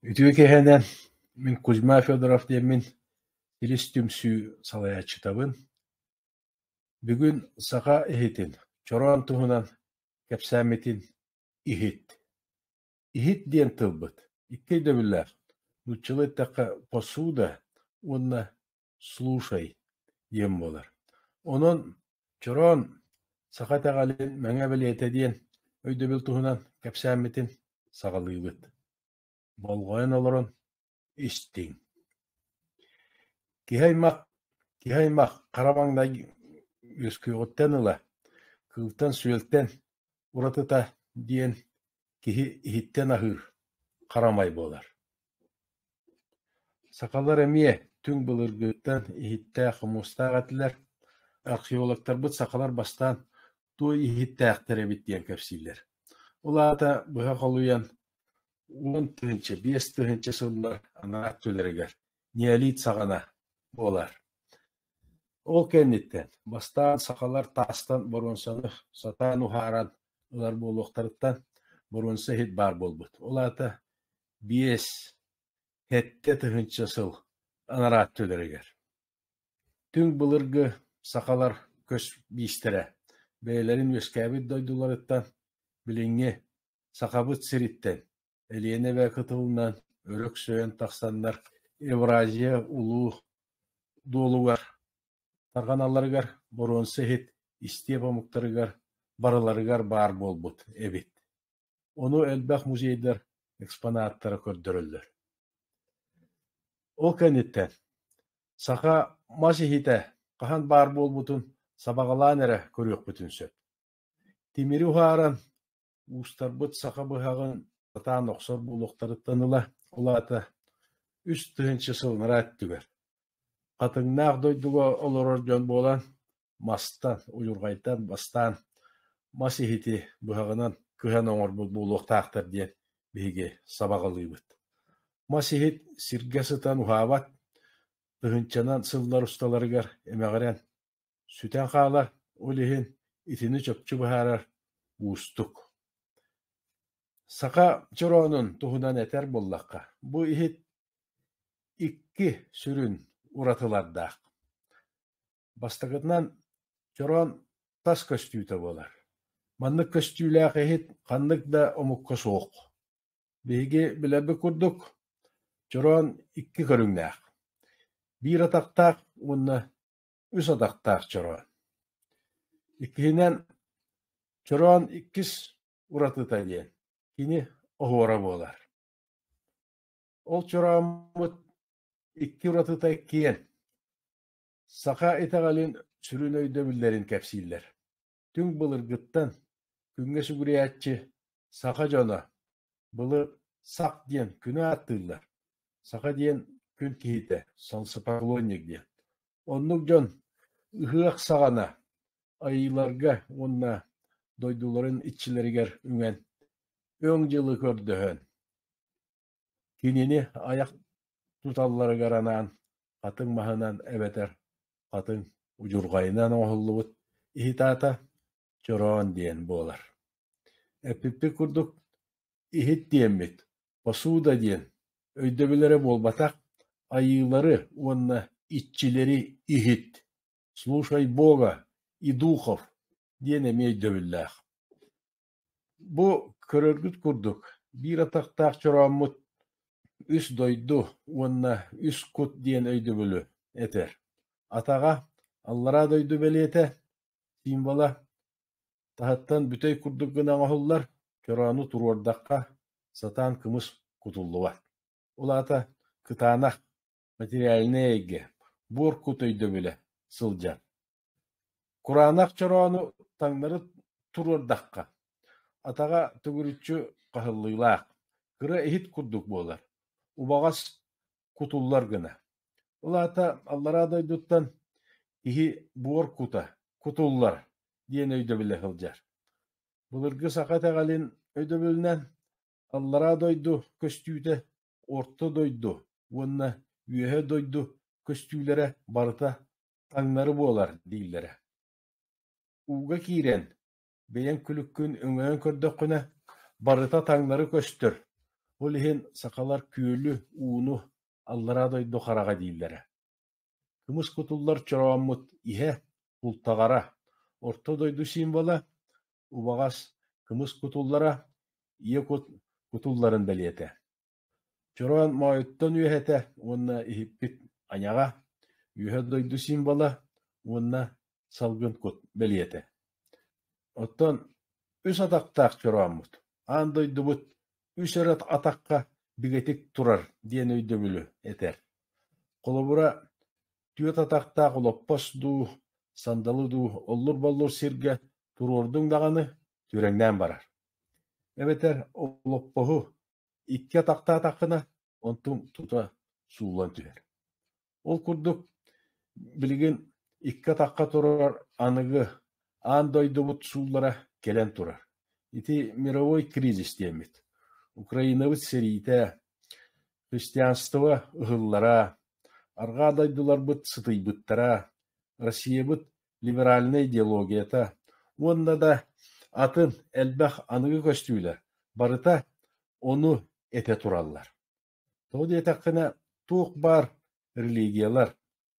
Үтүө киэһэнэн мин Кузьма Федоров диэммин силис түмсүү салайааччытабын. Бүгүн саха иһитин, чороон туһунан кэпсээммитин иһит. Иһит диэн тылбыт икки өйдөбүллээх, нууччалыы эттэххэ посуда уонна «Слушай» диэн буолар. Онон Чороон саха итэҕэлин Мэҥэ бэлиэтэ диэн өйдөбүл туһунан кэпсээммитин саҕалыыбыт. Болҕойон олорон истиҥ. Киһи-аймах киһи-аймах хара маҥнай үөскүөҕүттэн ыла кыылтан-сүөлтэн уратыта диэн киһи иһиттэн аһыыр, харамай буолар Сахалар эмиэ түҥ былыргыттан иһиттээх хомуустаах этилэр. Археологтарбыт сахалар бастаан туой иһиттээхтэр эбит диэн кэпсииллэр. Ол аата быһа холуйан уон тыһыынча, биэс тыһыынча сыллар анаар төлөрүгэр неолит саҕана буолар. Ол кэнниттэн бастаан сахалар таастан боруонсаны сатаан уһааран ылар буолуохтарыттан боруонса иһит баар буолбут. Ол аата биэс, сэттэ тыһыынча сыл анараа өттүлэригэр. Түҥ былыргы сахалар көс биистэрэ бэйэлэрин үөскээбит дойдуларыттан билиҥҥи Сахабыт сириттэн Элиэнэ эбэ кытылынан өрөксөйөн тахсаннар Евразия улуу дуолугар тарҕаналларыгар боруонса иһит истиэп омуктарыгар барыларыгар баар буолбут эбит Ону элбэх музейдар экспонаттара көрдөрөллөр. Ол кэнниттэн саха мас иһитэ хаһан баар буолбутун сабаҕалаан эрэ көрүөхпүтүн сөп. Тимири уһааран, уустарбыт саха быһаҕын сатаан охсор буолуохтарыттан ыла, ол аата үс тыһыынча сыллараа өттүгэр хатыҥнаах дойдуга олорор дьон буолан, мастан, удьурҕайтан бастаан мас иһити быһаҕынан кыһан оҥорбут буолуохтаахтар диэн биһиги сабаҕалыыбыт. Мас иһит сиргэ сытан уһаабат, тыһыынчанан сыллар усталарыгар эмэҕирэн Сүтэн хаалар, ол иһин итини чопчу быһаарар уустук. Саха чороонун туһунан этэр буоллахха, бу иһит икки сүрүн уратылардаах. Бастакытынан, чороон тас көстүүтэ буолар. Маннык көстүүлээх иһит ханнык да омукка суох. Биһиги билэрбит курдук, чороон икки көрүҥнээх. Биир атахтаах уонна үс атахтаах чороон. Иккиһинэн, чороон иккис уратыта диэн кини оһуора буолар. Ол чорооммут икки уратыта киэн. Саха итэҕэлин сүрүн өйдөбүллэрин кэпсииллэр. Түҥ былыргыттан, күҥҥэ сүгүрүйээччи саха дьоно, былы сах диэн күнү ааттыыллар, саха диэн күн киһитэ, солнцепоклонник диэн. Оннук дьон ыһыах саҕана айыыларга уонна дойдуларын иччилэригэр үҥэн, өҥ дьылы көрдөһөн, Кинини айах туталларыгар анаан хатыҥ маһынан эбэтэр хатыҥ удьурҕайынан оҥоһуллубут иһит аата чороон диэн буолар. Эппиппит курдук, иһит диэммит, посуда диэн өйдөбүллэрэ буолбатах, айыылары уонна иччилэри иһит, слушай Бога и духов диэн эмиэ өйдөбүллээх. Бу көрөргүт курдук, биир атахтаах чорооммут үс дойду уонна үс кут диэн өйдөбүлү этэр. Атаҕа аллараа дойду бэлиэтэ, символа таһыттан бүтэй курдук гына оҥоһуллар, чороону туруордахха, сатаан кымыс кутуллубат. Ол аата кытаанах, материальнай эйгэ, буор кут өйдөбүлэ сылдьар. Кураанах чороону таҥнары туруордахха, атаҕа төгүрүччү хаһыллыылаах, кыра иһит курдук буолар, убаҕас кутуллар гына. Ол аата аллараа дойдуттан иһи буор кута кутуллар диэн өйдөбүлэ сылдьар. Былыргы саха итэҕэлин өйдөбүлүнэн аллараа дойду көстүүтэ орто дойду уонна үөһэ дойду көстүүлэрэ барыта таҥнары буолар дииллэрэ. Ууга киирэн, бэйэҥ күлүккүн өҥөйөн көрдөххүнэ, барыта таҥнары көстөр, ол иһин сахалар күөлү, ууну аллараа дойду хараҕа дииллэрэ. Кымыс кутуллар чорооммут иһэ, култаҕара, орто дойду символа, убаҕас, кымыс кутуллара, ийэ кут кутулларын бэлиэтэ. Чороон моойуттан үөһэтэ уонна иһиппит айаҕа, үөһэ дойду символа уонна салгын кут бэлиэтэ. Оттон үс атахтаах чорооммут, аан дойдубут үс өр атахха бигэтик турар диэн өйдөбүлү этэр. Холобура, түөрт атахтаах олоппос дуу, сандалы дуу оллур-боллур сиргэ туруордуҥ даҕаны, түрэҥнээн барар. Эбэтэр олоппоһу икки атахтаатаххына, онтум тута суулан түһэр. Ол курдук, билигин икки атахха турар аныгы аан дойдубут сууллара кэлэн турар. Ити мировой кризис диэммит. Украинабыт сэриитэ, христианство ыһыллара, арҕаа дойдуларбыт сытыйбыттара, Россиябыт либеральнай идеологията уонна да атын элбэх аныгы көстүүлэр барыта ону этэ тураллар. Тоҕо диэтэххинэ, туох баар религиялар,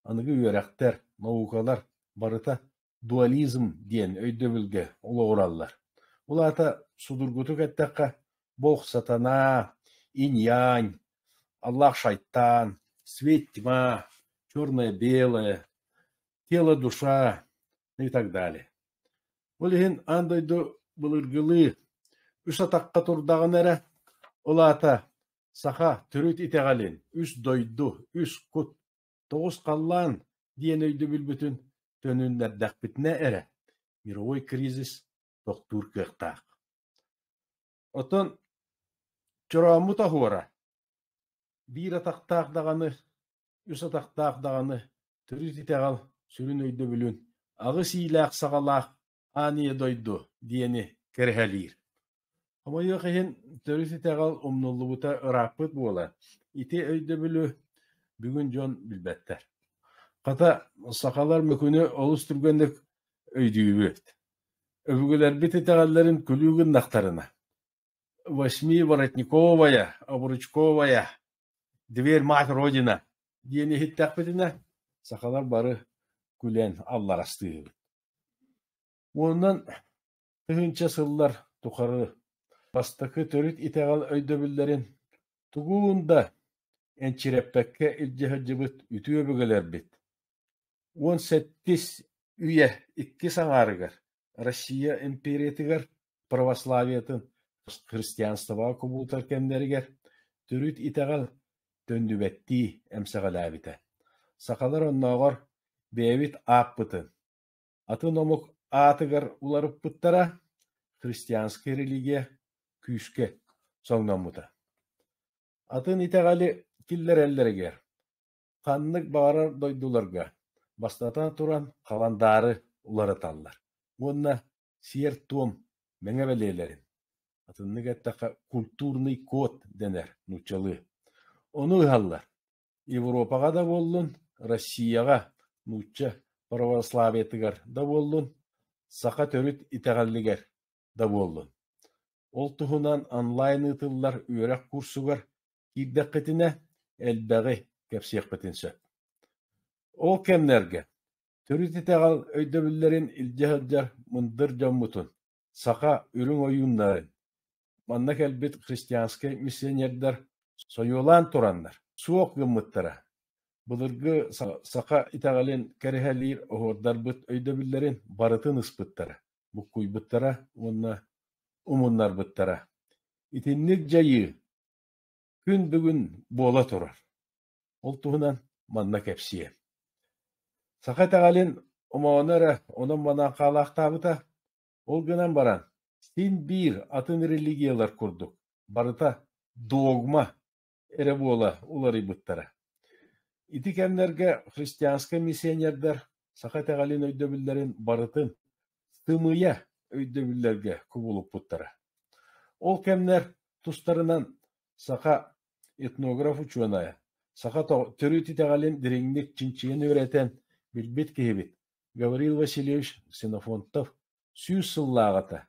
аныгы үөрэхтэр, наукалар барыта дуализм диэн өйдөбүлгэ олоҕураллар. Ол аата судургутук эттэххэ, бог сатана, инь-янь, аллах шайтан, свет тьма, черное-белое тело, душа и так далее. Ол иһин аан дойду былыргылыы үс атахха турдаҕына эрэ, ол аата саха төрүт итэҕэлин үс дойду, үс кут, тоҕус халлаан диэн өйдөбүлбүтүн төнүннэрдэхпитинэ эрэ мировой кризис тохтуур кыахтаах. Оттон Чорооммут оһуора биир атахтаах даҕаны, үс атахтаах даҕаны төрүт итэҕэл сүрүн өйдөбүлүн аҕыс иилээх саҕалаах ааньа дойду диэни кэрэһэлиир. Хомойуох иһин, төрүт итэҕэл умнуллубута ырааппыт буолан, ити өйдөбүлү бүгүн дьон билбэттэр. Хата, сахалар Мөкүнү олус түргэнник өйдүүбүт Өбүгэлэрбит итэҕэллэрин күлүү гыннахтарына «Восьми воротниковая, обручковая, дверь мать родина» диэн иһиттэхпитинэ сахалар бары күлэн алларастыыһыгыт. Уонунан тыһыынча сыллар тухары бастакы төрүт итэҕэл өйдөбүллэрин тугун да энчирэппэккэ илдьэ сылдьыбыт үтүө өбүгэлэрбит уон сэттис үйэ иккис аҥаарыгар Россия империятыгар православиетын христианствоҕа кубулутар кэмнэригэр төрүт итэҕэл төннүбэттии эмсэҕэлээбитэ. Сахалар оннооҕор бэйэбит ааппытын, атын омук аатыгар уларыппыттара христианскай религия күүскэ соҥноммута. Атын итэҕэли киллэрэллэригэр Ханнык баҕарар дойдуларга, бастатан туран, халандаары уларыталлар уонна сиэр-туом мэҥэ бэлиэлэрин, атыннык эттэххэ культурный код дэнэр нууччалыы, ону ыһаллар. Европаҕа да буоллун, Россияҕа нуучча православиетыгар да буоллун, саха төрүт итэҕэлигэр да буоллун. Ол туһунан онлайн ыытыллар үөрэх курсугар киирдэххитинэ, элбэҕи кэпсиэхпитин сөп. Ол кэмнэргэ төрүт итэҕэл өйдөбүллэрин илдьэ сылдьар мындыр дьоммутун, саха үрүҥ ойууннарын, манна кэлбит христианскай миссионердар сойуолаан тураннар суох гыммыттара, былыргы саха итэҕэлин кэрэһэлиир оһуордарбыт өйдөбүллэрин барытын ыспыттара. буккуйбуттара уонна умуннарбыттара. Итинник дьайыы күн бүгүн буола турар. Ол туһунан манна кэпсиэ. Саха итэҕэлин омооно эрэ онон-манан хаалаахтаабыта. Ол гынан баран, син биир атын религиялар курдук барыта догма, эрэ буола уларыйбыттара. Ити кэмнэргэ христианскай миссионердар саха итэҕэлин өйдөбүллэрин барытын сымыйа өйдөбүллэргэ кубулуппуттара. Ол кэмнэр тустарынан саха этнограф-учуонайа, саха төрүт итэҕэлин дириҥник чинчийэн үөрэтэн билбит киһибит Гаврил Васильевич Ксенофонтов сүүс сыллааҕыта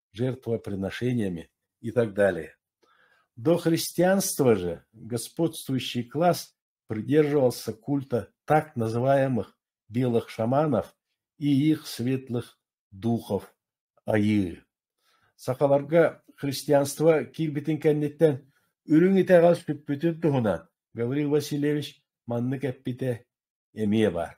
жертвоприношениями и так далее. До христианства же господствующий класс придерживался культа так называемых белых шаманов и их светлых духов айыы. Сахаларга христианство киирбитин кэнниттэн үрүҥ итэҕэл сүппүтүн туһунан Гаврил Васильевич маннык эппитэ эмиэ баар.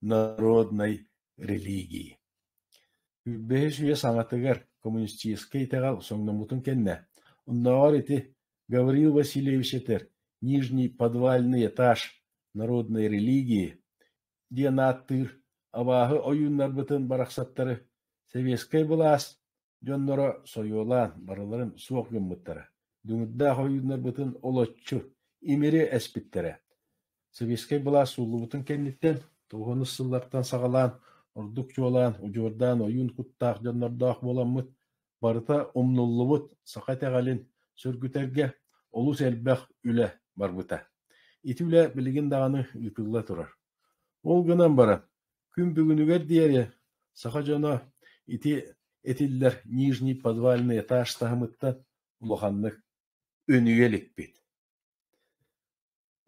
народнай религии бэһис үйэ саҥатыгар коммунистическай итэҕэл соҥноммутун кэннэ оннооҕор ити Гаврил Васильевич этэр «Нижний подвальный этаж народной религии» диэн ааттыыр абааһы ойууннарбытын барахсаттары сэбиэскэй былаас дьонноро сойуолаан барыларын суох гыммыттара, дүҥүрдээх ойууннарбытын олоччу имири эспиттэрэ, сэбиэскэй былаас сууллубутун кэнниттэн тоҕуонус сыллартан саҕалаан ордук чуолаан удьуордаан ойуун куттаах дьоннордоох буоламмыт, барыта умнуллубут саха итэҕэлин сөргүтэргэ олус элбэх үлэ барбыта. Ити үлэ билигин даҕаны ыытылла турар. Ол гынан баран, Күн бүгүнүгэр диэри саха дьоно ити этиллэр Нижний подвальный этаж таһымыттан улаханнык өнүйэ иликпит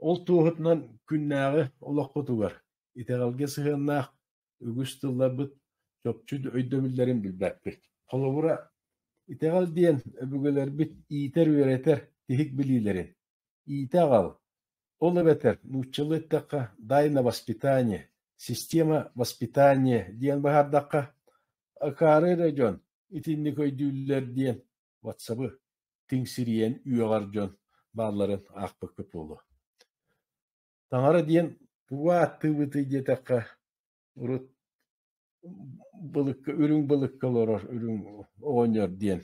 Ол туоһутунан күннээҕи олохпутугар итэҕэлгэ сыһыаннаах үгүс тылларбыт чопчу өйдөбүллэрин билбэппит. Холобура, итэҕэл диэн өбүгэлэрбит иитэр-үөрэтэр тиһик билиилэрин, Иитэ аҕал, ол эбэтэр нууччалыы эттэххэ «дай на воспитание», «система воспитания» диэн быһаардахха, акаары эрэ дьон итинник өйдүүллэр диэн ватсабы тиҥсирийэн үөҕэр дьон баалларын аахпыккыт буолуо. Таҥара диэн кугу ааттыыбытый диэтэххэ, урут былыкка үрүҥ былыкка олорор үрүҥ оҕонньор диэн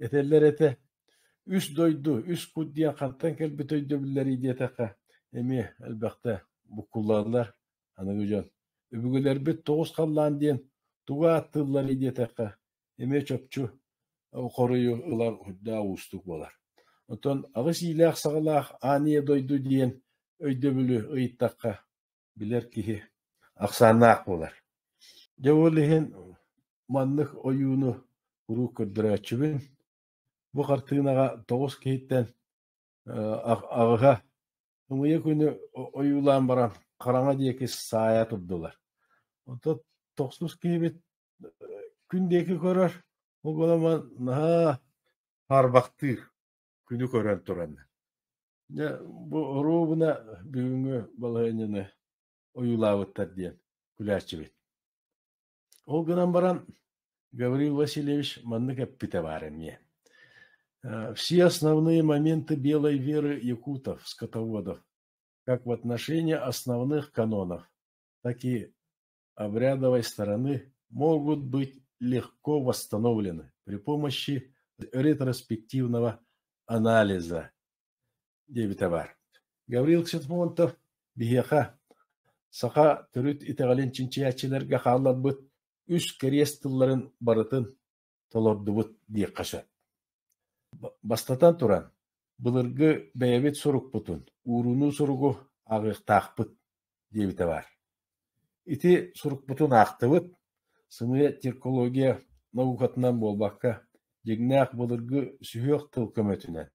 этэллэр этэ үс дойду үс кут диэн хантан кэлбит өйдөбүллэрий диэтэххэ эмиэ элбэхтэ буккуллаллар аныгы дьон үбүгүлэрбит тоҕус халлаан диэн тугу ааттыылларый диэтэххэ эмиэ чопчу хоруйу ылар үрдээх уустук буолар оттон аҕыс иилээх саҕалаах аан ийэ дойду диэн өйдөбүлү ыйыттахха билэр киһи ахсааннаах буолар. Дьэ ол иһин маннык ойууну куруук көрдөрөөччүбүн. Бу хартыынаҕа тоҕус киһиттэн аҕыһа ымыйа күнү ойуулаан баран хараҥа диэки саайа турдулар. Онтон тохсус киһибит күн диэки көрөр, ол гынан баран наһаа харбахтыыр. күнү көрөн туран дьэ бу оруобуна бүгүҥҥү балаһыанньаны ойуулаабыттар диэн күлээччибит ол гынан баран Гаврил Васильевич маннык эппитэ баар эмиэ все основные моменты белой веры якутов скотоводов как в отношении основных канонов так и обрядовой стороны могут быть легко восстановлены при помощи ретроспективного анализа диэбитэ баар. Гаврил Ксентмонтов биһиэхэ саха төрүт итэҕэлин чинчийээччилэргэ хаалларбыт үс кэриэс тылларын барытын толордубут диэххэ сөп. Бастатан туран, былыргы бэйэбит сурукпутун, уурунуу суругу ааҕыахтаахпыт диэбитэ баар. Ити сурукпутун аахтыбыт, сымыйа циркология наукатынан буолбакка, дьиҥнээх былыргы сүһүөх тыл көмөтүнэн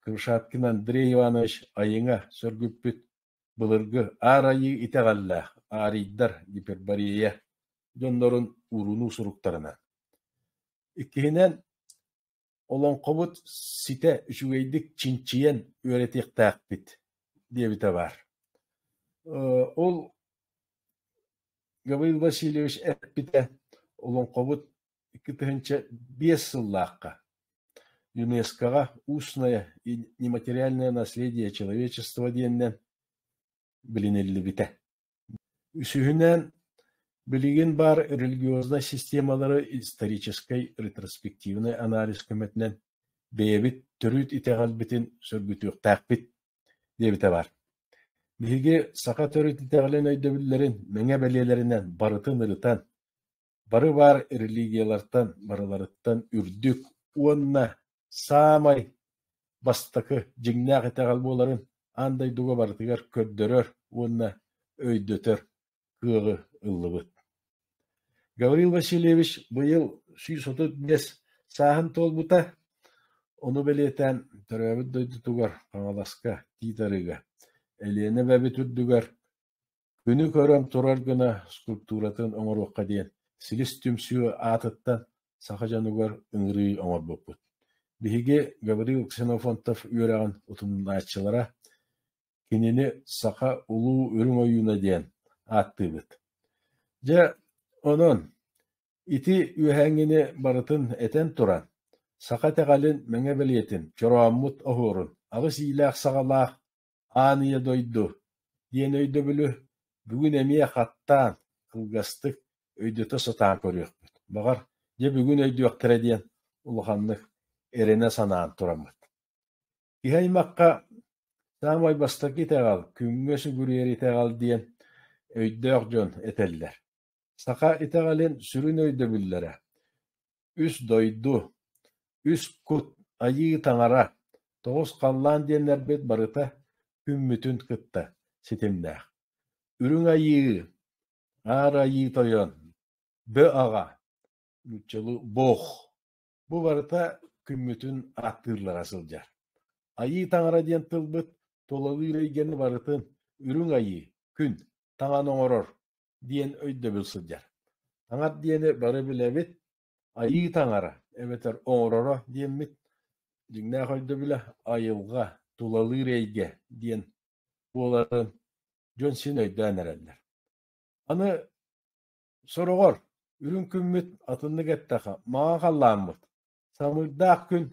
Крышаткин Андрей Иванович айыҥа сөргүппүт Былыргы Аар Айыы итэҕэллээх Аарыйдар гиперборея дьоннорун уурунуу суруктарынан. Иккиһинэн, олоҥхобут ситэ үчүгэйдик чинчийэн үөрэтиэхтээхпит диэбитэ баар. Ол Гаврил Васильевич эппитэ, олоҥхобут икки тыһыынча биэс сыллаахха ЮНЕСКО-ҕа «Устное и нематериальное наследие человечества» диэнинэн билиниллибитэ. Үсүһүнэн, билигин баар религиознай системалары историческай ретроспективнай анализ көмөтүнэн бэйэбит төрүт итэҕэлбитин сөргүтүөхтээхпит диэбитэ баар. Биһиги саха төрүт итэҕэлин өйдөбүллэрин мэҥэ бэлиэлэринэн барытын ырытан, бары баар религиялартан барыларыттан үрдүк уонна саамай бастакы дьиҥнээх итэҕэл буоларын аан дойдуга барытыгар көрдөрөр уонна өйдөтөр кыаҕы ыллыбыт. Гаврил Васильевич быйыл сүүс отут биэс сааһын туолбута. Ону бэлиэтээн төрөөбүт дойдутугар Хаҥаласка, Тиит Арыыга, Элиэнэ эбэбит үрдүгэр Күнү көрөн турар гына скульптуратын оҥоруохха диэн силис түмсүү аатыттан саха дьонугар ыҥырыы оҥорбуппут. Биһиги Гаврил Ксенофонтов үөрэҕин утумнааччылара кинини «Саха улуу үрүҥ ойууна» диэн ааттыыбыт. Дьэ, онон ити үөһээҥҥини барытын этэн туран, саха итэҕэлин, мэҥэ бэлиэтин, чорооммут оһуорун, аҕыс иилээх саҕалаах Аан Ийэ дойду диэн өйдөбүлү бүгүн эмиэ хаттаан, кылгастык өйдөтө сатаан көрүөхпүт. Баҕар, дьэ бүгүн өйдүөхтэрэ диэн улаханнык эрэнэ санаан тураммыт. Киһи аймахха саамай бастакы итэҕэл, күҥҥэ сүгүрүйэр итэҕэл диэн өйдөөх дьон этэллэр. Саха итэҕэлин сүрүн өйдөбүллэрэ: үс дойду, үс кут, Айыы Таҥара, тоҕус халлаан диэннэрбит барыта күммүтүн кытта ситимнээх. Үрүҥ Айыы, Аар Айыы Тойон, Бө Аҕа, нууччалыы Бог бу барыта күммүтүн ааттыыллара сылдьар. Айыы Таҥара диэн тылбыт тулалыыр эйгэни барытын Үрүҥ Айыы, Күн, Таҥан оҥорор диэн өйдөбүл сылдьар. Таҥар диэни бары билэбит, айыы таҥара эбэтэр оҥороро диэммит. Дьиҥнээх өйдөбүлэ айылҕа, тулалыыр эйгэ диэн буоларын дьон син өйдөөн эрэллэр. Аны сороҕор үрүҥ күммүт атыннык эттэхэ маҥа халлааммыт самыырдаах күн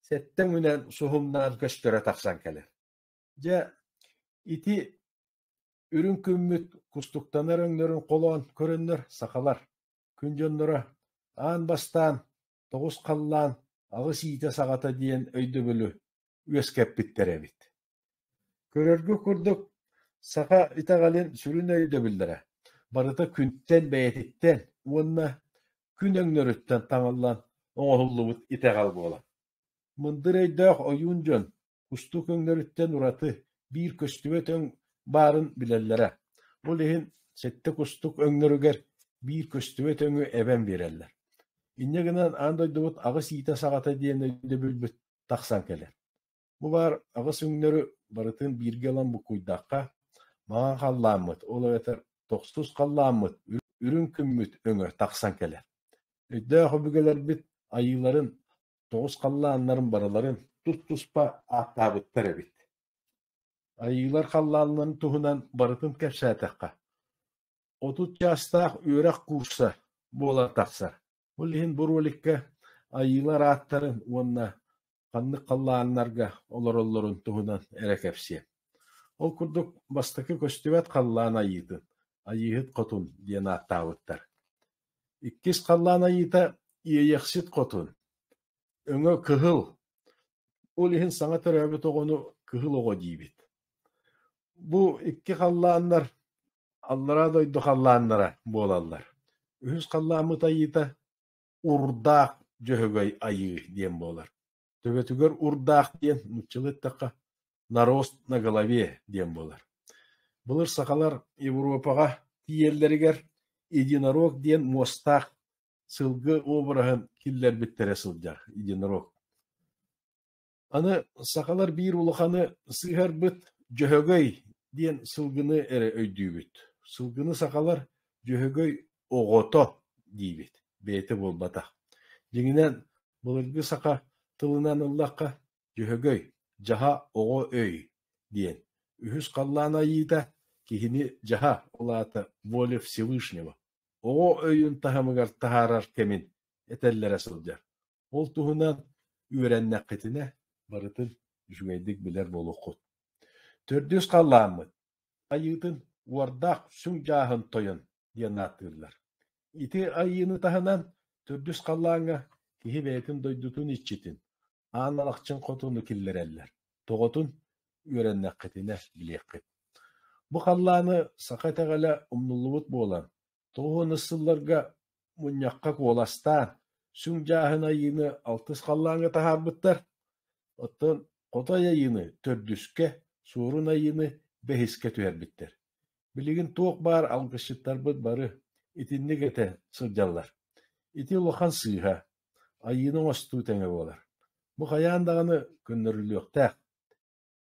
сэттэ үүнэн суһумнаан көстөрө тахсан кэлэр. Дьэ, ити үрүҥ күммүт кустуктанар өҥнөрүн холоон көрөннөр сахалар күн дьонноро аан бастаан тоҕус халлаан аҕыс иитэ саҕата диэн өйдөбүлү үөскэппиттэр эбит. Көрөргө курдук, саха итэҕэлин сүрүн өйдөбүллэрэ барыта күнтэн бэйэтиттэн уонна күн өҥнөрүттэн таҥыллан оҥоһуллубут итэҕэл буолар. Мындыр өйдөөх ойуун дьон кустук өҥнөрүттэн ураты биир көстүбэт өҥ баарын билэллэрэ, ол иһин сэттэ кустук өҥнөрүгэр биир көстүбэт өҥү эбэн биэрэллэр. Инньэ гынан аан дойдубут аҕыс иитэ саҕата диэн өйдөбүлбүт тахсан кэлэр. Бу баар аҕыс өҥнөрү барытын бииргэ ылан буккуйдахха, маҥан халлааммыт, ол эбэтэр тохсус халлааммыт, үрүҥ күммүт өҥө тахсан кэлэр. Өйдөөх өбүгэлэрбит айыыларын Тоҕус халлааннарын барыларын тус-туспа ааттаабыттар эбит Айыылар халлааннарын туһунан барытын кэпсээтэххэ, отут чаастаах үөрэх куурса буола тахсар. Ол иһин бу роликка айыылар ааттарын уонна ханнык халлааннарга олороллорун туһунан эрэ кэпсиэм. Ол курдук, бастакы көстүбэт халлаан айыытын, Айыыһыт хотун диэн ааттаабыттар. Иккис халлаан айыыта иэйэхсит хотун, өҥө кыһыл, ол иһин саҥа төрөөбүт оҕону кыһыл оҕо диибит. Бу икки халлааннар аллараа дойду халлааннара буолаллар. Үһүс халлааммыт айыыта урдаах дьөһөгөй айыы диэн буолар. төбөтүгэр урдаах диэн нууччалыы эттэххэ нарост на голове диэн буолар былыр сахалар европаҕа тиийэллэригэр единорог диэн муостаах сылгы обраһын киллэрбиттэрэ сылдьар единорог аны сахалар биир улаханы сыһарбыт дьөһөгөй диэн сылгыны эрэ өйдүүбүт сылгыны сахалар дьөһөгөй оҕото диибит бэйэтэ буолбатах дьиҥинэн Былыргы саха тылынан ыллахха «дьөһөгөй», «дьаһа оҕо өй» диэн үһүс халлаан айыыта киһини дьаһа улаата воля Всевышнего оҕо өйүн таһымыгар таһаарар кэмин этэллэрэ сылдьар. Ол туһунан үөрэннэххитинэ барытын үчүгэйдик билэр буолуоххут. Төрдүс халлааммыт айыытын уордаах сүҥ дьааһын тойон диэн ааттыыллар. Ити айыыны таһынан төрдүс халлааҥҥа киһи бэйэтин дойдутун иччитин, аан алахчын хотуну киллэрэллэр. Тоҕотун үөрэннэххитинэ билиэххит. Бу халлааны саха итэҕэлэ умнуллубут буолан, тоҕуонус сылларга мунньахха куоластаан, сүҥ дьааһын айыыны алтыс халлааҥҥа таһаарбыттар. Оттон хотой айыыны төрдүскэ, суорун айыыны бэһискэ түһэрбиттэр. Билигин туох баар алгысчыттарбыт бары итинник этэ сылдьаллар. Ити улахан сыыһа, айыыны оҥостуу тэҥэ буолар. Бу хайаан даҕаны көннөрүллүөхтээх.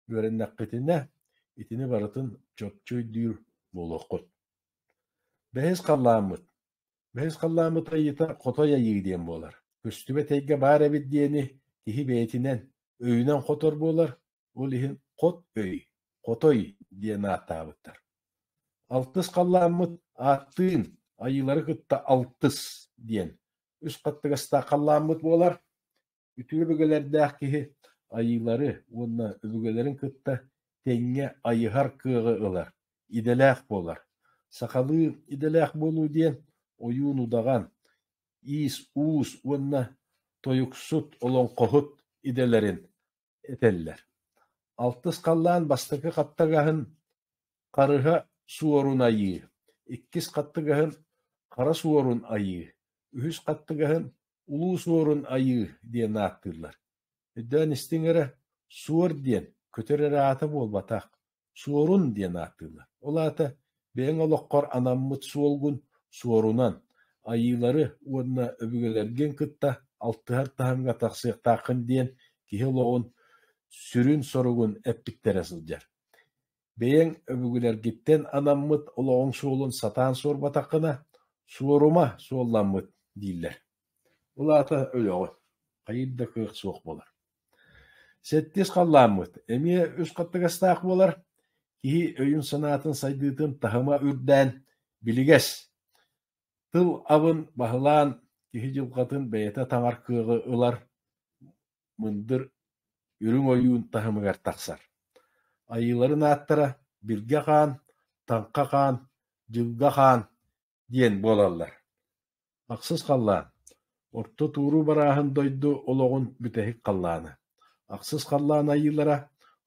Үөрэннэххитинэ, итини барытын чопчу өйдүүр буолуоххут. Бэһис халлааммыт. Бэһис халлааммыт айыыта хотой айыы диэн буолар. Көстүбэт эйгэ баар эбит диэни киһи бэйэтинэн, өйүнэн хотор буолар, Ол иһин Хот өй, Хотой диэн ааттаабыттар. Алтыс халлааммыт ааттыын айыылары кытта алтыс диэн үс хаттыгастаах халлааммыт буолар. Үтүө өбүгэлэрдээх киһи айыылары уонна өбүгэлэрин кытта тэҥҥэ айыһар кыаҕы ылар, идэлээх буолар. Сахалыы идэлээх буолуу диэн ойуун удаҕан, иис-уус уонна тойуксут, олоҥхоһут идэлэрин этэллэр алтыс халлаан бастакы хаттагаһын харыһа суорун айыы иккис хаттыгаһын хара суорун айыы үһүс хаттыгаһын улуу суорун айыы диэн ааттыыллар өйдөөн истиҥ эрэ суор диэн көтөр эрэ аата буолбатах Суорун диэн ааттыыллар. Ол аата бэйэҥ олоххор анаммыт суолгун суорунан, айыылары уонна өбүгэлэргин кытта алтыһар таһымҥа тахсыахтааххын диэн киһи олоҕун сүрүн соругун эппиттэрэ сылдьар. Бэйэҥ өбүгэлэргиттэн анаммыт олоҕуҥ суолун сатаан суорбатаххына, суорума суолламмыт дииллэр. Ол аата өлөҕүн, хайыр да кыах суох буолар. Сэттиэс халлааммыт эмиэ үс хаттыгастаах буолар, киһи өйүн-санаатын сайдыытын таһыма үрдээн, билигэс, тыл абын баһылаан, киһи дьылҕатын бэйэтэ таҥар кыаҕы ылар, мындыр үрүҥ ойуун таһымыгар тахсар. Айыыларын ааттара: Биргэ хаан, Таҥха хаан, Дьылга хаан диэн буолаллар. Ахсыс халлаан орто туоруу барааһын дойду олоҕун бүтэһик халлаана. Ахсыс халлаан айыылара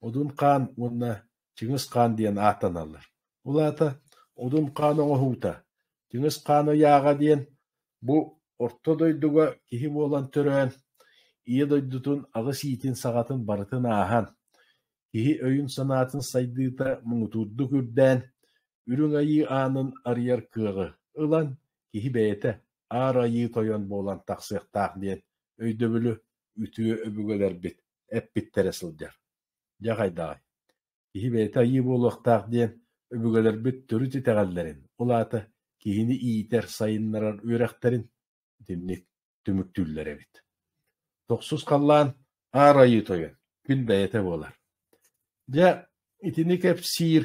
Одун Хаан уонна Чыҥыс Хаан диэн ааттаналлар. Ол аата Одун Хаан оҥоһуута, Чыҥыс Хаан ыйааҕа диэн бу орто дойдуга киһи буолан төрөөн, ийэ дойдутун аҕыс иитин саҕатын барытын ааһан, Киһи өйүн-санаатын сайдыыта муҥутуурдук үрдээн, Үрүҥ Айыы аанын арыйар кыаҕы ылан, киһи бэйэтэ Аар Айыы тойон буолан тахсыахтаах диэн өйдөбүлү үтүө өбүгэлэрбит эппиттэрэ сылдьар. Дьэ хайдаҕый, киһи бэйэтэ айыы буолуохтаах диэн өбүгэлэрбит төрүт итэҕэллэрин, ол аата киһини иитэр, сайыннарар үөрэхтэрин итинник түмүктүүллэр эбит. Тохсус халлаан аар айыы тойон күн бэйэтэ буолар. Дьэ, итини кэпсиир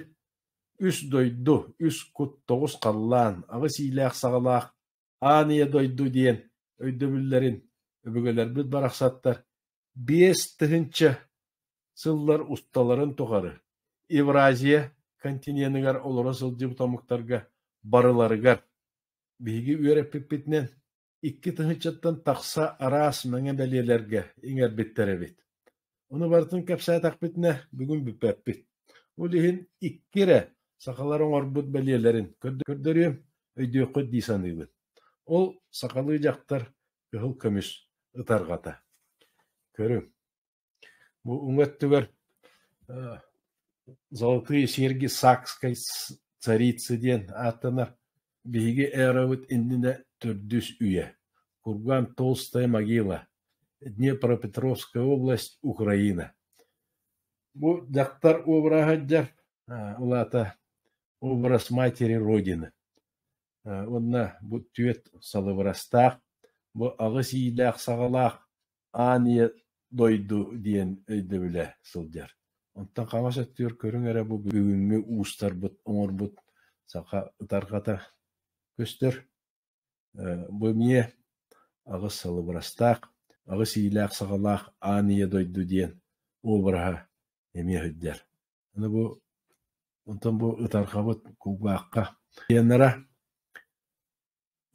үс дойду, үс кут тоҕус халлаан аҕыс иилээх-саҕалаах аан ийэ дойду диэн өйдөбүллэрин өбүгэлэрбит барахсаттар биэс тыһыынча сыллар усталарын тухары Евразия континеныгар олоро сылдьыбыт омуктарга барыларыгар Биһиги үөрэппиппитинэн икки тыһынчаттан тахса араас мэҥэ бэлиэлэргэ иҥэрбиттэр эбит. Ону барытын кэпсээтэхпитинэ бүгүн бүппэппит. Ол иһин икки эрэ сахалар оҥорбут бэлиэлэрин көрдөрүөм, өйдүөххүт дии саныыбын. Ол сахалыы дьахтар кыһыл көмүс ытарҕата. Көрүҥ. Бу уҥа өттүгэр «Золотые серьги сакской царицы» диэн ааттанар биһиги эробут иннинэ төрдүс үйэ, кургаан «Толстая могила», Днепропетровская область, Украина. Бу дьахтар уобараһа сылдьар, улаата образ матери Родины. уонна бу түөрт салыбырастаах, бу аҕыс иилээх-саҕалаах аан ийэ дойду диэн өйдөбүлэ сылдьар. Онтон хаҥас өттүгэр көрүҥ эрэ бу бүгүҥҥү уустарбыт, оҥорбут саха ытарҕата көстөр. Бу эмиэ аҕыс салыбырастаах, аҕыс иилээх-саҕалаах аан ийэ дойду диэн обраһа эмиэ сылдьар. Аны бу онтон бу ытархабыт кулгаахха диэннара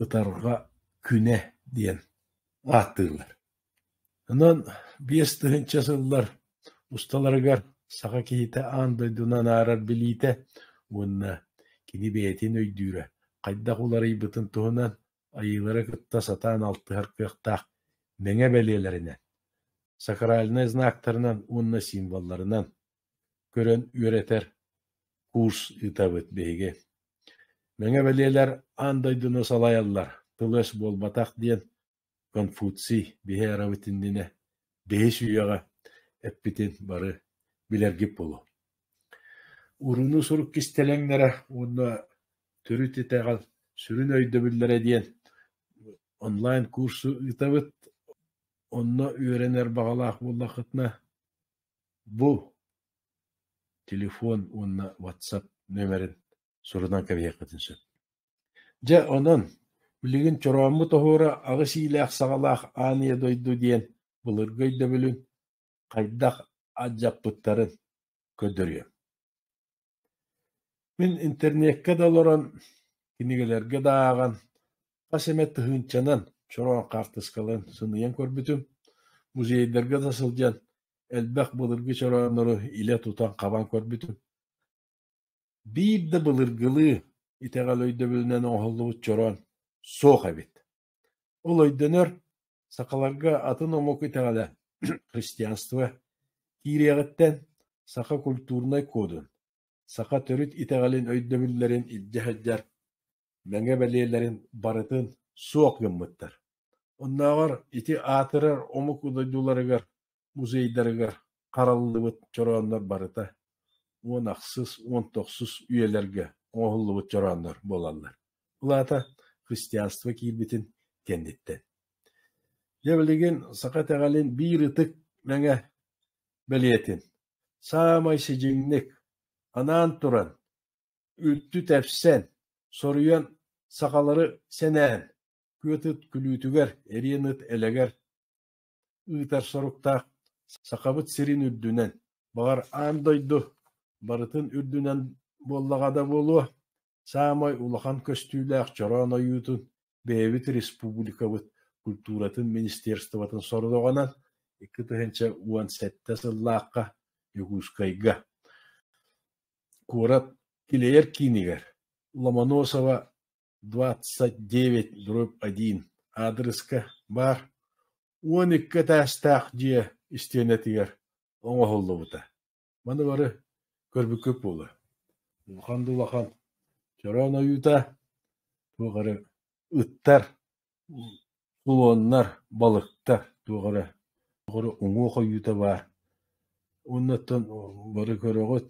ытарҕа күнэ диэн ааттыыллар. Онон биэс тыһыынча сыллар усталарыгар саха киһитэ аан дойдуну анаарар билиитэ уонна кини бэйэтин өйдүүрэ хайдах уларыйбытын туһунан Айыылары кытта сатаан алтыһар кыахтаах мэҥэ бэлиэлэринэн, сакральнай знактарынан уонна символларынан көрөн үөрэтэр курс ыытабыт биһиги. Мэҥэ бэлиэлэр аан дойдуну салайаллар, тыл-өс буолбатах диэн Конфуций биһи эрабыт иннинэ бэһис үйэҕэ эппитин бары билэргит буолуо. Урууну сурук кистэлэҥнэрэ уонна Төрүт итэҕэл сүрүн өйдөбүллэрэ диэн онлайн-куурсу ыытабыт. Онно үөрэнэр баҕалаах буоллаххытына, бу телефон уонна WhatsApp нөмерин сурунан кэбиһиэххитин сөп. Дьэ, онон билигин Чорооммут оһуора аҕыс иилээх саҕалаах Аан ийэ дойду диэн былыргы өйдөбүлүн хайдах алдьаппыттарын көрдөрүөм. Мин интернеккэ да олорон, кинигэлэргэ да ааҕан, хас эмэ тыһыынчанан чороон хаартыскаларын сыныйан көрбүтүм. Музейдарга да сылдьан, элбэх былыргы чорооннору илэ тутан-хабан көрбүтүм. Биир да былыргылыы, итэҕэл өйдөбүлүнэн оҥоһуллубут чороон суох эбит. Ол өйдөнөр, сахаларга атын омук итэҕэлэ христианство киириэҕиттэн саха культурнай кодун, саха төрүт итэҕэлин өйдөбүллэрин илдьэ сылдьар мэҥэ бэлиэлэрин барытын суох гыммыттар. Оннооҕор ити аатырар омук дойдуларыгар музейдарыгар хараллыбыт чорооннор барыта уон ахсыс, уон тохсус үйэлэргэ оҥоһуллубут чорооннор буолаллар. Ол аата христианство киирбитин кэнниттэн. Дьэ билигин саха итэҕэлин биир ытык мэҥэ бэлиэтин саамай сидьиҥник анаан туран, үрдү тэпсэн, соруйан сахалары сэнээн, күөт ыт күлүүтүгэр, эриэн ыт элэгэр Ыытар соруктаах Сахабыт сирин үрдүнэн, баҕар, аан дойду барытын үрдүнэн буоллаҕа да буолуо, саамай улахан көстүүлээх чороон ойуутун бэйэбит республикабыт культуратын министерствотын сорудоҕунан икки тыһыынча уон сэттэ сыллаахха Дьокуускайга куорат килэйэр киинигэр Ломоносова двадцать девять дробь один аадырыска баар уон икки этээстээх дьиэ истиэнэтигэр оҥоһуллубута маны бары көрбүккүт буолуо улахан да улахан чороон ойуута туох эрэ ыттар Слоннар, балыктар туох эрэ уҥуох ойуута баар уоннаттан бары көрөҕүт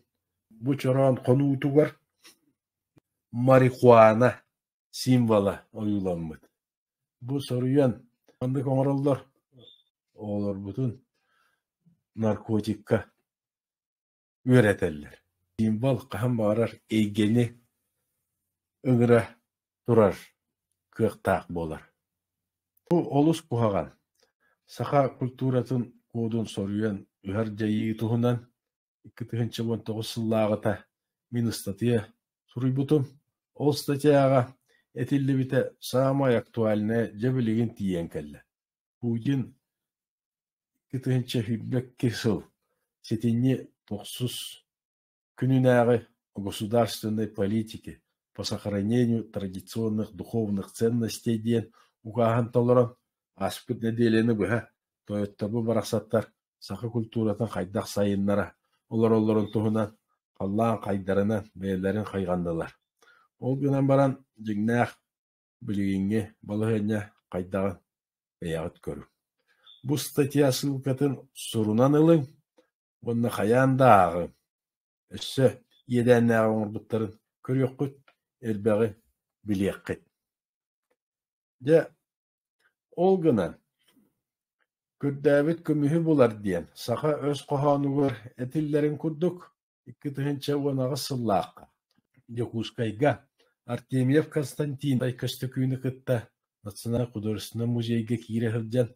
бу чороон хонуутугар марихуана символа ойууламмыт. Бу соруйан маннык оҥороллор оҕолорбутун наркотикка үөрэтэллэр. Символ хаһан баҕарар эйгэни ыҥыра турар кыахтаах буолар. Бу олус куһаҕан. Саха культуратын кодун соруйан ыһар дьайыы туһунан икки тыһыынча уон тоҕус сыллааҕыта мин ыстатыйа суруйбутум. Ол статьяҕа этиллибитэ саамай актуальнай, дьэ билигин тиийэн кэллэ. Путин икки тыһыынча сүүрбэкки сыл ситини тохсус күнүнээҕи государственной политики по сохранению традиционных духовных ценностей диэн укааһын толорон ааспыт нэдиэлэни быһа тойоттобу барахсаттар саха культуратын хайдах сайыннара олороллорун туһунан халлаан хайдарынан бэйэлэрин хайҕаннылар. Ол гынан баран дьиҥнээх Билигиҥҥи балаһыанньа хайдаҕын бэйэҕит көрүҥ. Бу статья ссылкатын сурунан ылыҥ уонна хайаан да ааҕыҥ. Өссө иэдээннээҕи оҥорбуттарын көрүөххүт, элбэҕи билиэххит. Дьэ, ол гынан, көрдөөбүт көмүһү булар диэн саха өс хоһоонугар этиллэрин курдук, Икки тыһыынча уон аҕыс сыллаахха Дьокуускайга Артемьев Константиновай Көстөкүүнү кытта Национальнай художественнай музейга киирэ сылдьан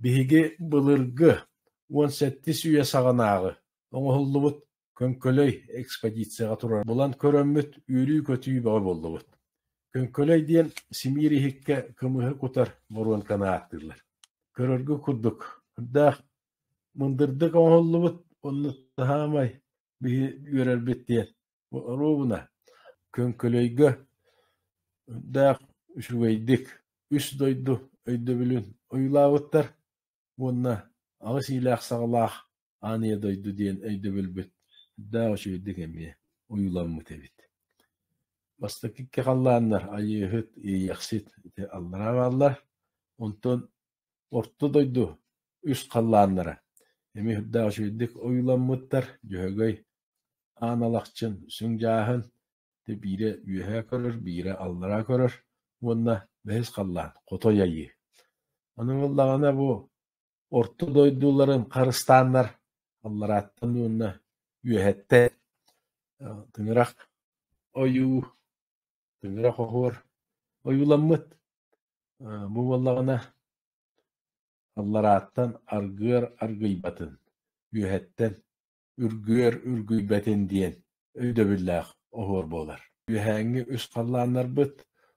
биһиги былыргы уон сэттис үйэ саҕанааҕы оҥоһуллубут Көҥкөлөй экспедицияҕа турар булан көрөммүт үөрүү-көтүү бөҕө буоллубут. Көҥкөлөй диэн симиир иһиккэ кымыһы кутар боруонканы ааттыыллар. Көрөргө курдук, үрдээх Мындырдык оҥоһуллубут оннук саамай биһи үөрэрбит диэн оруобуна Көҥкөлөйгө өрүттээх үчүгэйдик үс дойду өйдөбүлүн ойуулаабыттар уонна аҕыс иилээх-саҕалаах ааныйа дойду диэн өйдөбүлбүт эрдээх үчүгэйдик эмиэ ойууламмыт эбит Бастакы икки халлааннар Айыыһыт, Иэйэхсит ити аллараа бааллар, онтон Орто дойду үс халлааннара эмиэ үрдээх үчүгэйдик ойууламмыттар: Дьөһөгөй, Аан Алахчын, Сүҥ Дьааһын, дьэ биирэ үөһээ көрөр, биирэ аллараа көрөр уонна бэһис халлаан – Хотой Айыы. Ону ыллаҕына бу орто дойдуларын харыстааннар алларааттан уонна үөһэттэн тыҥырах ойуу Күнүрэх оһуор ойууламмыт. Бу буоллаҕына алларааттан аргыар аргыйбатын, үөһэттэн үргүөр үргүйбэтин диэн өйдөбүллээх оһуор буолар. Үөһээҥҥи үс халлааннарбыт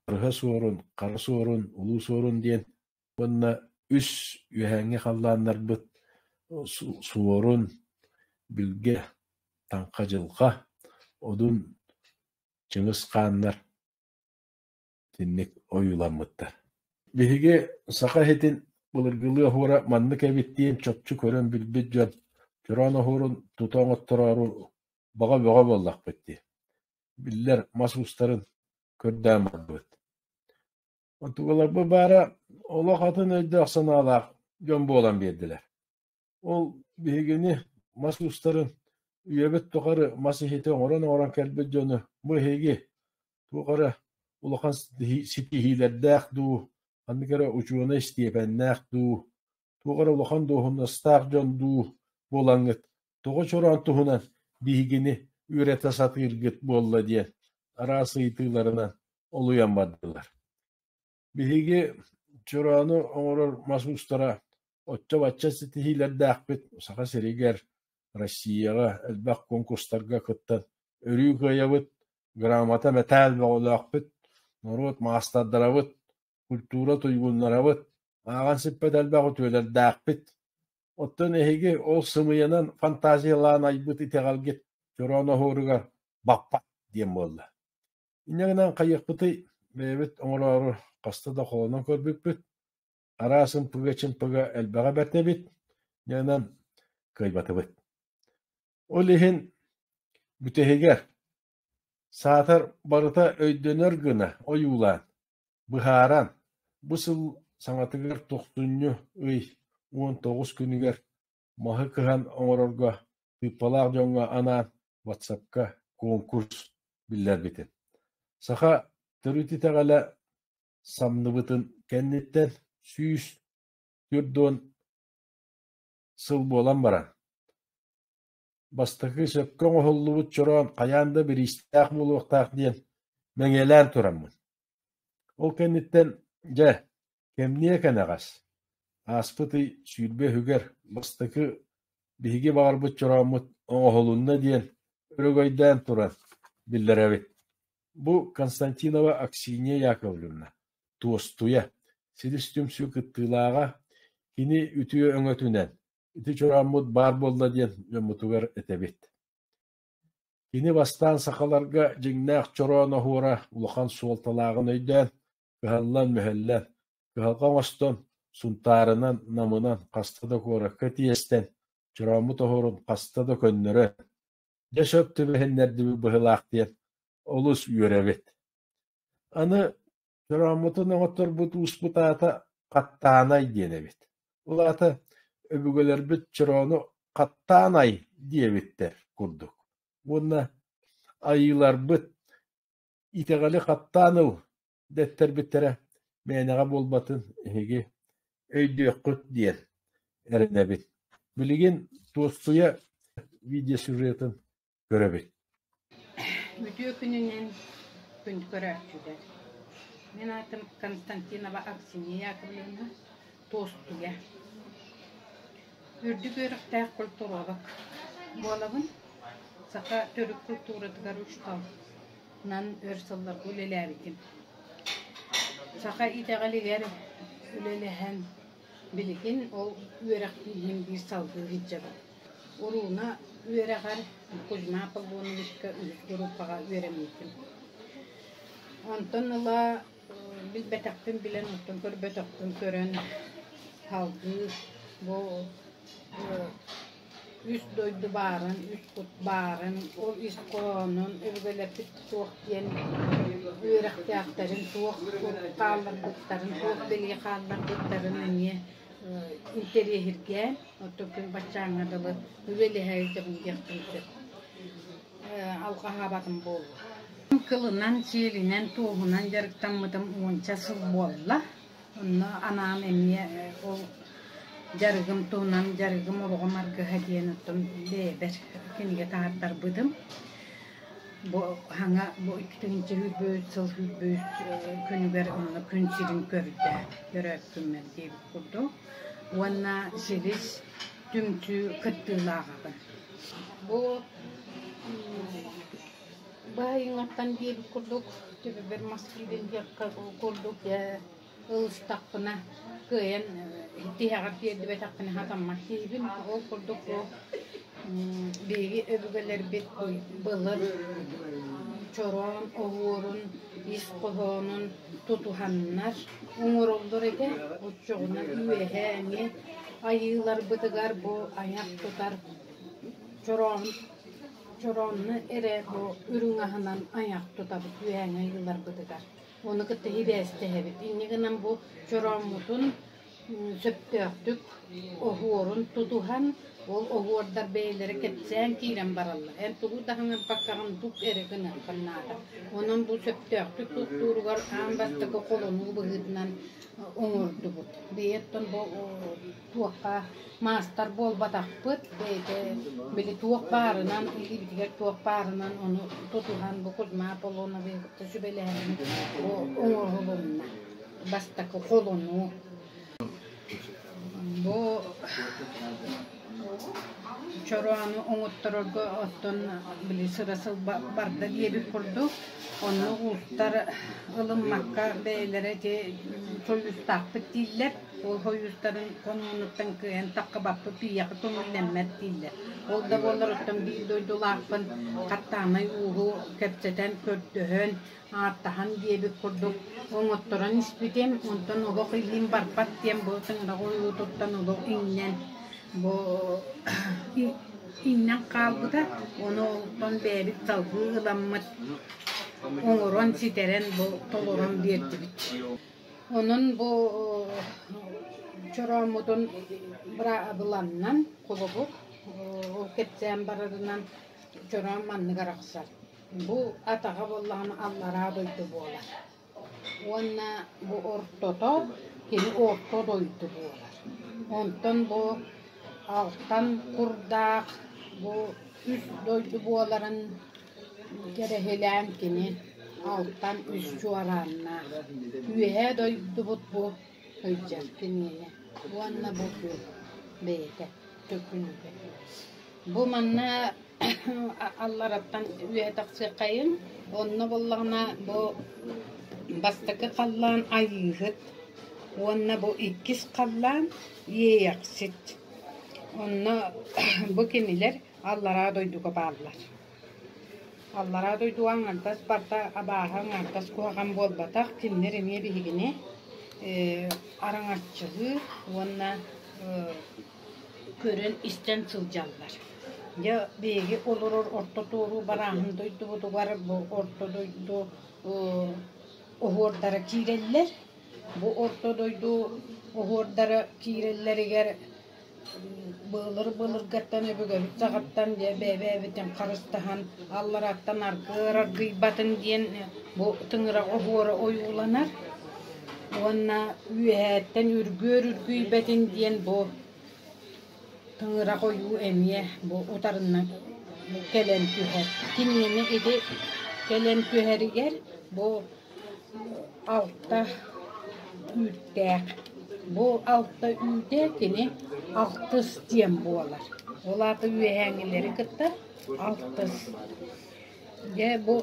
Арыһа Суорун, Хара Суорун, Улуу Суорун диэн уонна үс үөһээҥҥи халлааннарбыт Суорун, Билгэ, Таҥха Дьылҕа, Одун Чыгыс хааннар итинник ойууламмыттар. Биһиги саха иһитин былыргылыы оһуора маннык эбит диэн чопчу көрөн билбит дьон чороон оһуорун тута оҥоттороору баҕа бөҕө буоллахпыт дии. Биллэр мас уустарын көрдөөн барбыт. Онтукаларбы баара олох атын өйдөөх санаалаах дьон буолан биэрдилэр. Ол биһигини мас уустарын үйэбит тухары мас иһити оҥорон-оҥорон кэлбит дьону бу эһиги туох эрэ улахан ситиһиилэрдээх дуу, ханнык эрэ учуонай истиэпэннээх дуу, туох эрэ улахан дуоһунастаах дьон дуу буолаҥҥыт тоҕо чороон туһунан биһигини үөрэтэ сатыыргыт буолла диэн араас ыйытыыларынан олуйан бардылар. Биһиги чороону оҥорор мас уустара оччо-бачча ситиһиилэрдээхпит Саха сиригэр, Россияҕа элбэх конкурстарга кыттан өрүү кыайабыт, грамота, мэтээл бөҕөлөөхпүт, норуот маастардарабыт, культура туйгуннарабыт, ааҕан сиппэт элбэх үтүөлэрдээхпит. Оттон эһиги ол сымыйанан фантазиялаан айбыт итэҕэлгит чороо ноһуоругар баппат диэн буолла. Инньэ гынан хайыахпытый, бэйэбит оҥороору хаста да холонон көрбүппүт, араас ымпыга-чымпыга элбэҕэ бэрт эбит, инньэ гынан кыайбатыбыт. Ол иһин бүтэһигэр саатар барыта өйдөнөр гына ойуулаан, быһааран, бу сыл саҥатыгар тохтунньу ый уон тоҕус күнүгэр Маһы кыһан оҥорорго тыыппалаах дьоҥҥо анаан ватсапка куонкурс биллэрбитим, саха төрүт итэҕэлэ самныбытын кэнниттэн сүүс түөрт уон сыл буолан баран Бастакы сөпкө оҥоһуллубут чороон хайаан да бириистээх буолуохтаах диэн мэҥиэлээн тураммын. Ол кэнниттэн, дьэ, кэмниэ кэнэҕэс, ааспыт ый сүүрбэ үһүгэр бастакы биһиги баҕарбыт чорооммут оҥоһулунна диэн өрөгөйдөөн туран биллэрэбит. Бу Константинова Аксинья Яковлевна, туостуйа, силис түмсүү кыттыылааҕа, кини үтүө өҥөтүнэн Ити чурааммыт баар буолла диэн дьоммутугар этэбит. Кини бастаан сахаларга дьиҥнээх чороон оһуора улахан суолталааҕын өйдөөн, кыһаллан-мөһөллөн, кыһалҕа оҥостон, Сунтаарынан, Намынан хаста да куоракка тиэстэн, чорооммут оһуорун хаста да көннөрөн, дьэ сөп түбэһиннэрдибит быһыылаах диэн олус үөрэбит. Аны Дорооммутун оҥотторбут ууспут аата Хаттаанай диэн эбит. Ол аата өбүгэлэрбит чороону хаттаан ай диэбиттэр курдук. Уонна айыыларбыт итэҕэли хаттаан ыл дэттэрбиттэрэ мээнэҕэ буолбатын эһиги өйдүөххүт диэн эрэнэбит. Билигин туоссуйа видеосюжетын көрөбүт Үтүө күнүнэн күн көрөөччүтэ. Мин аатым Константинова Аксинья Яковлевна, Туостуя. Үрдүк үөрэхтээх культуровок буолабын. Саха төрүт культуратыгар учууталынан өр сылларга үлэлээбитим. Саха итэҕэлигэр үлэлэһэн Билигин ол үөрэхтииһин биир салгыы илдьэбин. Урууна үөрэҕэр Кузьма Павлоновичка үһүс группаҕа үөрэммитим. Онтон ыла билбэтэхпин билэн, оттон көрбөтөхпүн көрөн, салгыы бу Үс дойду баарын, үс кут баарын, ол ис хоһоонун өбүгэлэрбит суох диэн үөрэхтээхтэрин суох кут хаалларбыттарын, суох билии хаалларбыттарын эмиэ интэриэһиргээн, оттон баччааҥҥа дылы үлэлэһэ илдьэбин диэхпин сөп. Алҕаһаабатым буолуо. Кылынан, сиэлинэн, туоһунан дьарыктаммытым уонча сыл буолла. Онно анаан эмиэ ол дьарыгым туһунан дьарыгым уругум аргыһа диэн оттон бэйэбэр кинигэ таардарбытым. Бу хаҥа бу иккитинчи сүүрбүт сыл сүүрбүт күнүгэр онно күн сирин көрдө көрөөккүммүн диэбит курдук. Уонна силис түмсүү кыттыылааҕа. Бу Баайыҥаттан диэбит курдук, төбөбөр маска диэн диэххэ курдук ылыстахпына, кыайан тиһэҕэр тиэрдибэтэхпинэ сатаммат киһибин. Ол курдук бу биһиги өбүгэлэрбит былыр чороон оһуорун, ис хоһоонун тутуһаннар оҥороллор этэ. Оччоҕуна үөһэ эмиэ айыыларбытыгар бу айах тутар чороон Чороонну эрэ бу үрүҥаһынан айах тутабыт үһээҥэй ыларбытыгар. Ону кытта сибээстэһэбит. Инньэ гынан бу чорооммутун сөптөөхтүк оһуорун тутуһан, ол оһуордар бэйэлэрэ кэпсээн киирэн бараллар. Эн тугу да хаҥырпаккаҕын тук эрэ гыныаххын наада. Онон бу сөптөөхтүк туттууругар аан бастакы холонуу быһыытынан оҥордубут. Бэйэттэн бу туохха маастар буолбатахпыт, бэйэтэ били туох баарынан, илиибитигэр туох баарынан ону тутуһан бу Кузьма Аполлоновы кытта сүбэлэһэн оҥоһулунна. Бастакы холону бу чороону оҥотторорго оттон били сыра сыл барда диэбит курдук онно уустар ылыммакка бэйэлэрэ ити сойуустаахпыт дииллэр Ол хойуустарын хонуунуттан кыайан таххабаппыт ийэҕэ көҥүллэммэт дииллэр. Ол да буоллар оттон биир дойдулаахпын хаттаанай ууһу кэпсэтэн, көрдөһөн, ааттаһан диэбит курдук оҥотторон испитим. Онтон олох илиим барбат диэн бу тыҥыраҕы ойуутуттан олох иҥнэн бу иҥнэн хаалбыта. Ону олтон бэйэбит салгыы ыламмыт оҥорон, ситэрэн, бу толорон биэрдибит. Онон бу чорооммутун быраабыланнан холобур кэпсээн барарынан чороом маннык арахсар: бу атаҕа буоллаҕына аллараа дойду буолар уонна бу ортото кини орто дойду буолар. Онтон бу алтан курдаах бу үс дойду буоларын Кэрэһилээн кини алтан үс чуорааннаах үөһээ дойдубут бу сылдьар кинини уонна бу күн бэйэтэ төкүнүгэ. Бу манна аллараттан үөһэ тахсыаххайын, онно буоллаҕына бу бастакы халлаан айыыһыт уонна бу иккис халлаан иэйэхсит. Онно бу кинилэр Аллараа дойдуга бааллар. Аллараа дойду аҥардас барта абааһы аҥардас куһаҕан буолбатах, кинилэр эмиэ биһигини э араҥаччылыы уонна э көрөн-истэн сылдьаллар. Дьэ биһиги олорор орто туоруу барааһын дойдубутугар бу орто дойду оһуордара киирэллэр. Бу орто дойду оһуордара киирэллэригэр былыр былыргаттан өбүгэбит саҕаттан бэйэбитин харыстаһан аллараттан аргыыр аргыйбатын диэн бу тыҥыраҕа оһуора ойууланар уонна үөһээттэн үргүөр үргүйбэтин диэн бу тыҥырақ ойуу эмиэ бу утарынан кэлэн түһэр. Киниэни ити кэлэн түһэригэр бу Алта үүттээх. Бу алта үүтэ кини алтыс диэн буолар. Ол аата үөһээҥилэри кытта алтыс. Дьэ бу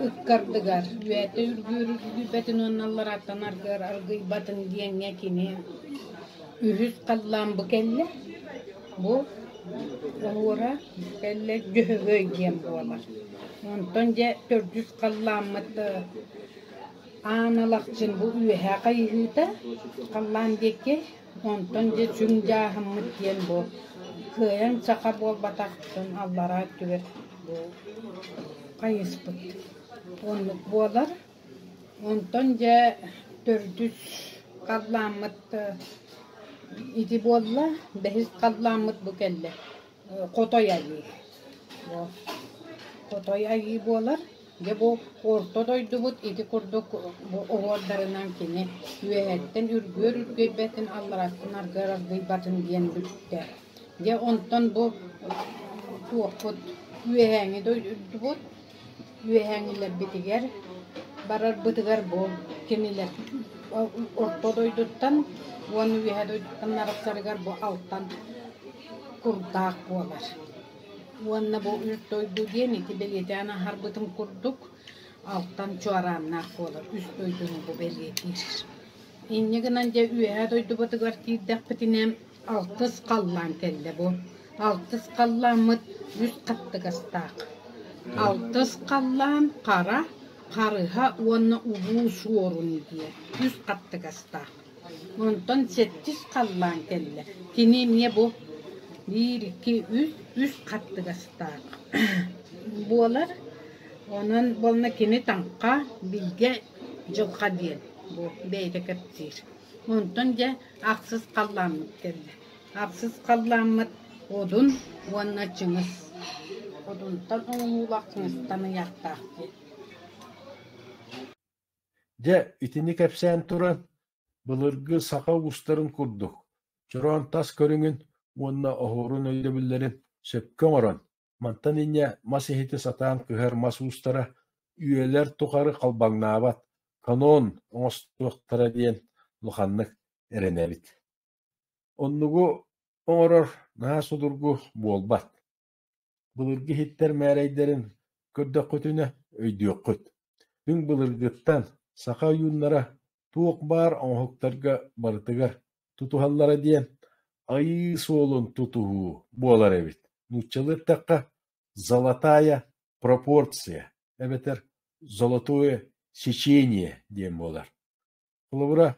ыккардыгар үүтэ үргүүрүйбэтин уонна ларааттанаргар аргыйбатын диэҥҥэ кини үһүс халлаан бу кэллэ. Бу уора кэллэ Дьөһөгөй диэн буолар. Онтон дьэ төрдүс халлааммыт аан Алахчын бу үөһээ хайыһыыта халлаан диэки, онтон дьэ сүҥ дьааһыммыт диэн бу кыайан саха буолбатахтан аллараа өттүгэр бу хайыспыт оннук буолар. Онтон дьэ төрдүс халлааммыт ити буолла, бэһис халлааммыт бу кэллэ Хотой Айыы. Хотой Айыы буолар, дьэ бу орто дойдубут ити курдук уҥуордарынан кини үөһэттэн үргүөр-үргүйбэтин, аллараттан аргыйбатын диэн бүттэ. Дьэ онтон бу туохпут үөһээҥи дойдубут Үөһээҥҥилэрбитигэр, барарбытыгар бу кинилэр орто дойдуттан уонна үөһэ дойдуттан арахсарыгар бу алтан курдаах буолар. Уонна бу үс дойду диэн ити бэлиэтээн аһарбытым курдук, алтан чуорааннаах буолар, үс дойдуну бу бэлиэтиир. Инньэ гынан дьэ үөһэ дойдубутугар киирдэхпитинэ Алтыс халлаан кэллэ бу. Алтыс халлааммыт үс хаттыгастаах. Алтыс халлаан хара, харыһа уонна улуу суорун диэ үс хаттыгастаах. Онтон сэттис халлаан кэллэ. Кини эмиэ бу биир, икки, үс, үс хаттыгастаах буолар. Онон буолла кини таҥха, билгэ, дьылҕа диэн бу бэйэтэ кэпсиир. Онтон дьэ ахсыс халлааммыт кэллэ. Ахсыс халлааммыт одун уонна чыҥыс. Одунтан оҥоһуулаах чыҥыстан ыйаахтаах диэн. Дьэ, итини кэпсээн туран, былыргы саха уустарын курдук, чороон тас көрүҥүн уонна оһуорун өйдөбүллэрин сөпкө оҥорон, Мантан инньэ мас иһити сатаан кыһар мас уустара үйэлэр тухары халбаҥнаабат, канон оҥостуохтара диэн улаханнык эрэнэбит. Оннугу оҥорор наһаа судургу буолбат. Былыргы иһиттэр мээрэйдэрин көрдөххүтүнэ өйдүөххүт. Күн былыргыттан саха ойууннара туох баар оҥоһуктарга барытыгар тутуһаллара диэн айыы суолун тутуһуу буолар эбит. Нууччалыы эттэххэ «золотая пропорция» эбэтэр «золотое сечение» диэн буолар. Холобура,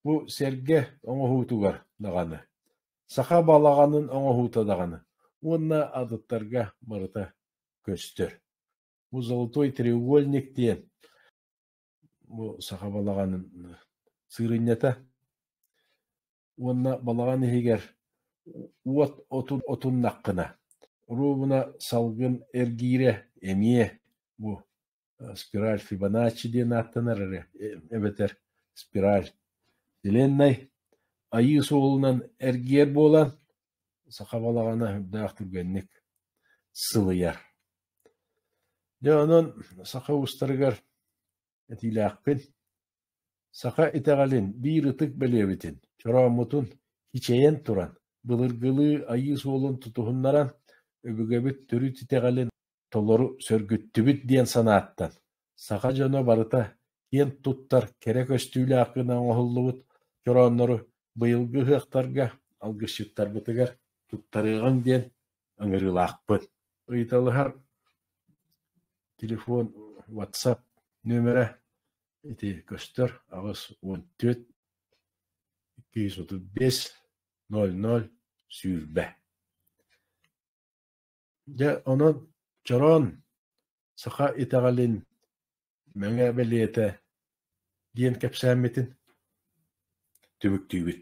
бу сэргэ оҥоһуутугар даҕаны, саха балаҕанын оҥоһуута даҕаны уонна атыттарга барыта көстөр. Бу «золотой треугольник» диэн бу саха балаҕанын сыырынньата уонна балаҕан иһигэр уот отун отуннаххына оруобуна салгын эргиирэ эмиэ бу спираль фибоначчи диэн ааттанар эрэ эбэтэр спираль селеннай айыы суолунан эргийэр буолан Саха балаҕана сүрдээх түргэнник сылыйар. Дьэ онон саха уустарыгар этиилээхпин. Саха итэҕэлин биир ытык бэлиэбитин, чорооммутун хичэйэн туран, былыргылыы айыы суолун тутуһуннаран, өбүгэбит төрүт итэҕэлин толору сөргүттүбүт диэн санааттан, саха дьоно барыта киэн туттар кэрэ көстүүлээх гына оҥоһуллубут чорооннору быйылгы ыһыахтарга, алгысчыттарбытыгар туттарыаҕыҥ диэн ыҥырыылаахпын. Ыйыталаһар телефон, WhatsApp нөмөрө ити көстөр аҕыс уон түөрт икки жүз отут биэс нөл нөл сүүрбэ. Дьэ, онон, чороон, саха итэҕэлин Мэҥэ бэлиэтэ диэн кэпсээммитин түмүктүүбүт